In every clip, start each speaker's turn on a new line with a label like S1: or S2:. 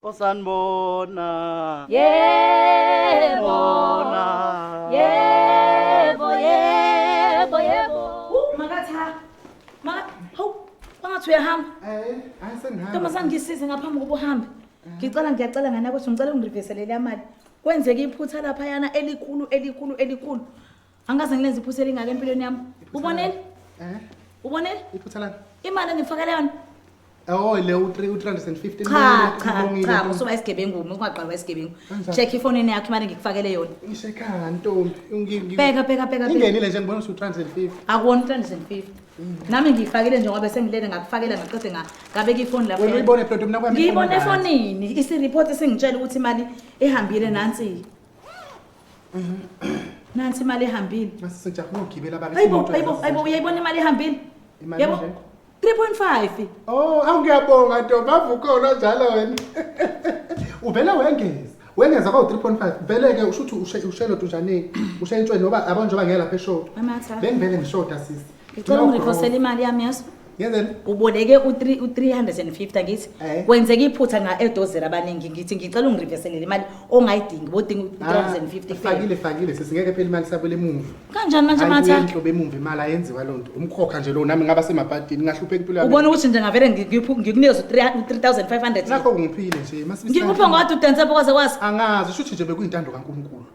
S1: osanibona yebo
S2: bona yebo yebo yebo Uh, makatha maka hawu bangathi uyahamba Eh, hayi
S3: sengihamba. ntombazane ngisize
S2: ngaphambi kokuba uhambe ngicela ngiyacela nganakwethu ngicela ungiriveselele amali kwenzeke iphutha laphayana elikhulu elikhulu elikhulu angikaze ngilenze iphutha elingaka empilweni yami ubonile eh ubonile iphutha lani
S3: imali engifakele
S2: yona Oh le
S3: u350 cha cha
S2: cha musuba isigebengu ungaqalwa isigebengu check ifone yakho imali ngikufakele yona isekhaya ntombi
S3: ngibheka bheka bheka ingenile
S2: nje ngibona usu350
S3: akuwona 350
S2: nami ngiyifakile nje ngoba sengilele ngakufakela ngaqede ngabeka ifoni lapho wena uyibone plot mina kwami
S3: ngiyibone efonini
S2: isi report singitshela ukuthi imali ihambile nansi nansi imali ehambile Masisejapha ukugibela
S3: baba. ayibo imoto ayibo yasesejapha. ayibo uyayibona
S2: imali ehambile Imali yabo enje? 3.5 Oh, awu
S3: ngiyabonga ntombi avukhona njalo wena. Uvele wengeza. Wengeza kwa 3.5. Vele ke usho ukuthi ushe- ushelo tunjaneni. Ushentshwe noba yabo njengoba ngeke lapha eshoda. Amatha. Bengivele
S2: ngishoda sisi.
S3: ngicela ungirephosele
S2: imali yami yaso Yenzeni? Uboleke
S3: u3
S2: u350 ngithi Eh. kwenzeka iphutha nga edozera abaningi ngithi ngicela ungireverselele imali ongayidingi bodinga u350 Fakile fakile sesingeke phela imali
S3: sabele emuva. Kanjani manje matha?
S2: Ayinhlo bemuva imali
S3: ayenziwa lonto. Umkhokha nje lo nami ngaba semabhadini ngahlupheka impilo yami. Ubona ukuthi nje ngavele ngi- ngiphu-
S2: ngikunikeze u3500. Nakho ngiphile nje
S3: masibisana. Ngikuphe ngodwa udanse kwaze
S2: kwazi. Angazi shuthi nje
S3: bekuyintando kaNkulunkulu.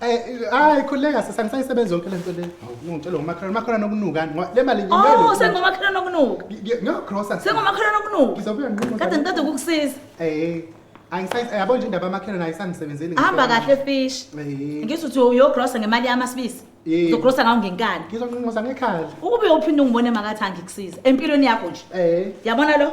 S2: Eh, hayi khuleka
S3: sisani sayisebenza yonke lento le ungitshela ngomakhelwane makhelwane okunuka ngoba le mali oh sengomakhelwane
S2: okunuka ngiyogrosa
S3: sengomakhelwane okunuka
S2: ngizobuya nqomo kade ngicede
S3: ukukusiza
S2: eh angisayise
S3: yabo nje indaba yamakhelwane ayisangisebenzeli hamba kahle fish
S2: eh. ngisho ukuthi uyogrosa ngemali yamasibisi eh. uzogrosa ngawo ngenkani ngizonqonqoza ngekhala
S3: ukube uphinde ungibone
S2: makathi angikusiza empilweni yakho nje eh yabona lo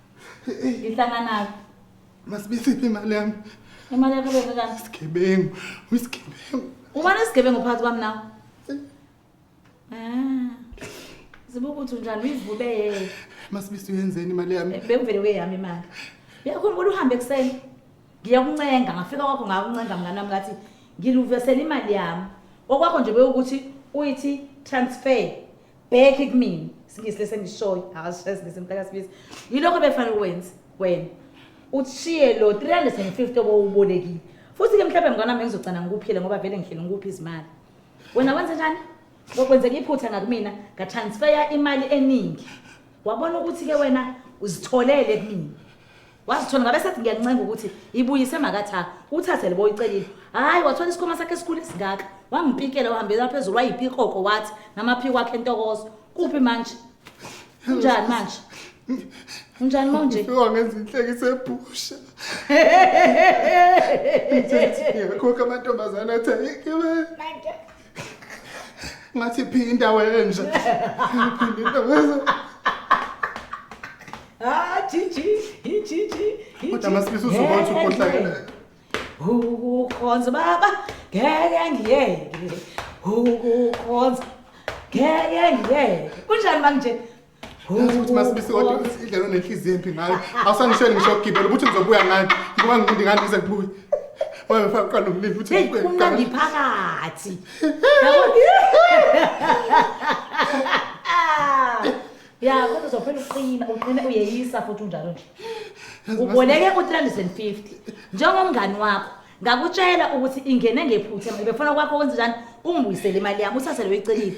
S2: Ngihlanganaphi?
S3: Masibisiphi imali yami. Imali yakho beka
S2: kanti. Isigebengu,
S3: uyisigebengu.
S2: Ubani isigebengu phakathi kwami nawe? Ah. Ziba ukuthi unjani uyivube yeye. Masibisi uyenzeni
S3: imali yami? Eh, Bekuvele kweyami imali.
S2: Uyakhumbula uhambe ekuseni? Ngiyakuncenga, ngafika kwakho ngakuncenga mngane wami ngathi ngiluvesela imali yami. Okwakho nje bewukuthi uyithi transfer. bheke kumina singisi lesi engishoyo akasishaye singisi mntakasibisi yilokho befanele ukwenze wena ushiye lo 350 obowubolekile futhi-ke mhlawumbe mngane wami ngizogcina ngikuphile ngoba vele ngihlele ngikuphi izimali wena wenze njani ngokwenzeka iphutha ngakumina ngatransfeya imali eningi wabona ukuthi-ke wena uzitholele kumina wazithola ngabe sethi ngiyancenga ukuthi ibuyise makatha uthathe libo uyicelile hayi wathola isikhoma sakhe esikhulu esingaka wangipikela wahambela phezulu wayipikoko wathi namaphiko wakhe entokozo kuphi manje unjani manje unjani manje ufika ngenza inhlekisa
S3: ebhusha ngiyakhoka amantombazane athi ayike manje ngathi phinda wenja phinda wenja
S2: ah chichi chichi kodwa masifisa uzokwazi
S3: ukhohlakela
S2: ukukhonza baba ngeke ngiyeke ukukhonza ngeke ngiyeke kunjani manje Yazi ukuthi
S3: masibisi kodwa indlela onenhliziyo embi ngayo awusangisheli ngisho ukugibela ukuthi ngizobuya ngani ngoba ngikundi ngani ngize ngibuye wabe faka qala umlilo uthi Hey, ngibuye kumnandi ngigane.
S2: phakathi. Ah, Ya, kodwa uzophela uqina, uqina uyeyisa futhi unjalo nje. Yazi Uboleke u350 njengomngani wakho. Ngakutshela ukuthi ingene ngephutha, befuna kwakho wenze njani? Ungibuyisele imali yami, uthathe leyo icelile.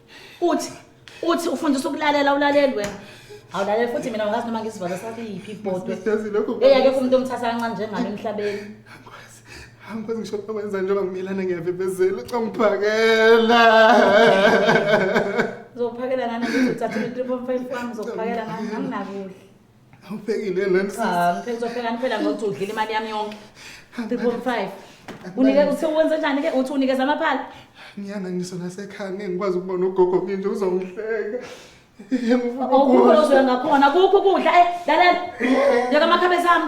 S2: uthi uthi ufundisa ukulalela ulaleli wena awulaleli futhi mina ngazi noma ngisivala sakhe yiphi ibhodwe eyake
S3: kumuntu omthatha kancane
S2: njengami emhlabeni
S3: angikwazi ngisho ukwenza njengoba ngimelana ngiyavebezela ucangiphakela
S2: uzokuphakela ngani uthatha i-3 point 5 wami uzokuphakela ngani nganginakudla Awuphekile
S3: nani sisi? Ah, mphela uzopheka
S2: niphela ngokuthi udlile imali yami yonke. 3.5. Unike uthe wenze njani ke? Uthi unikeza amaphala? Ngiyana ngiso
S3: nasekhaya ngeke ngikwazi ukuba nogogo nginje uzongihleka.
S2: Awukho ozoya ngakhona, kukho ukudla. Eh, lalela. Yeka amakhabe zami.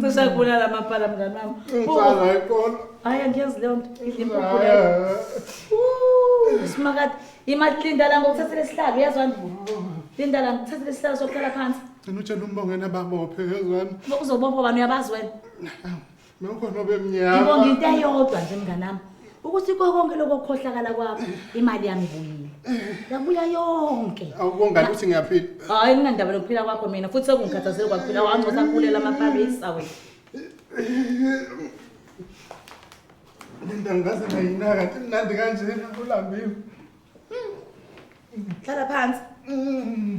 S2: Sisakubulala amapala mngani wami. Insana
S3: iqola. Hayi angiyazi leyo nto
S2: idlimpuphu leyo. Simakade imali linda la ngokuthathela isihlalo uyazwa nje. Linda la ngokuthathela isihlalo sokuhlala phansi. Ngicela utshela umbongena
S3: babophe yezwani. Uzobopha bani uyabazi
S2: wena? Nokho
S3: nobe mnyama. Ngibonga into eyodwa
S2: nje mnganami ukuthi konke lokho kukhohlakala kwakho imali yami ibuyile. Yabuya yonke. Awubongani ukuthi
S3: ngiyaphila. Hayi nginandaba nokuphila
S2: kwakho mina futhi sekungikhathazile kwaphila wangcosa kulela amaParis awe. Linda
S3: ngaze ngayinaka imnandi kanjena ulambiwe.
S2: Hlala phansi. Mm.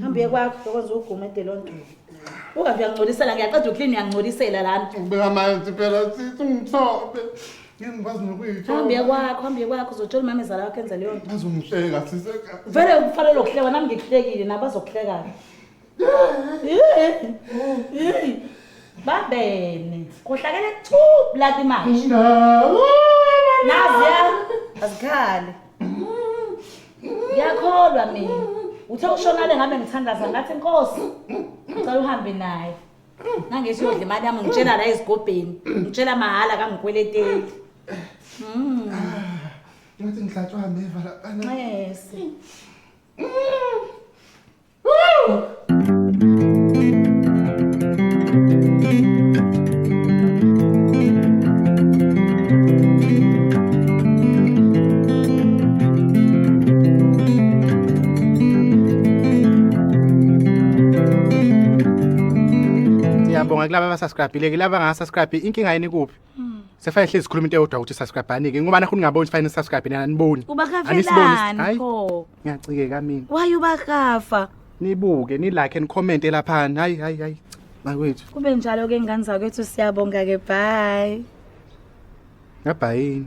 S2: hamba uye kwakho yokwenza ugume de loo nto ungathi uyangcolisela ngiyaqeda uklini uyangcolisela lana ubeka amanzi phela
S3: sisi ungithobe ngingikwazi hamba uye nokuyithoba kwakho hamba uye kwakho uzotshela
S2: umama ezala wakho enza leyo nto azongihleka sisi
S3: vele ufanele ukuhlekwa
S2: nami ngikuhlekile nabo azokuhlekana babene kohlakele tu blati manje naziya azikhale ngiyakholwa mina uthe ushonale ngabe ngithandaza ngathi nkosi ngicela uhambe naye nangethi uyodla imali yami ngitshela la ezigobheni ngitshela mahhala kangikweleteli Mm.
S3: Ngithi ngihlatshwa ameva la. Nxese. Ngiyabonga kulaba abasubscribile kulaba ngasubscribe inkinga yini kuphi Sefane hlezi sikhuluma into eyodwa ukuthi subscribe anike ngoba nakho ningaboni sifane subscribe nina niboni. Ubakafelani Hayi.
S2: pho? Ngiyacikeka mina.
S3: Why ubakafa?
S2: Nibuke ni
S3: like and comment elaphana. Hayi hayi hayi. Bakwethu. Kube njalo ke ngane
S2: zakwethu siyabonga ke bye. Ngabhayini.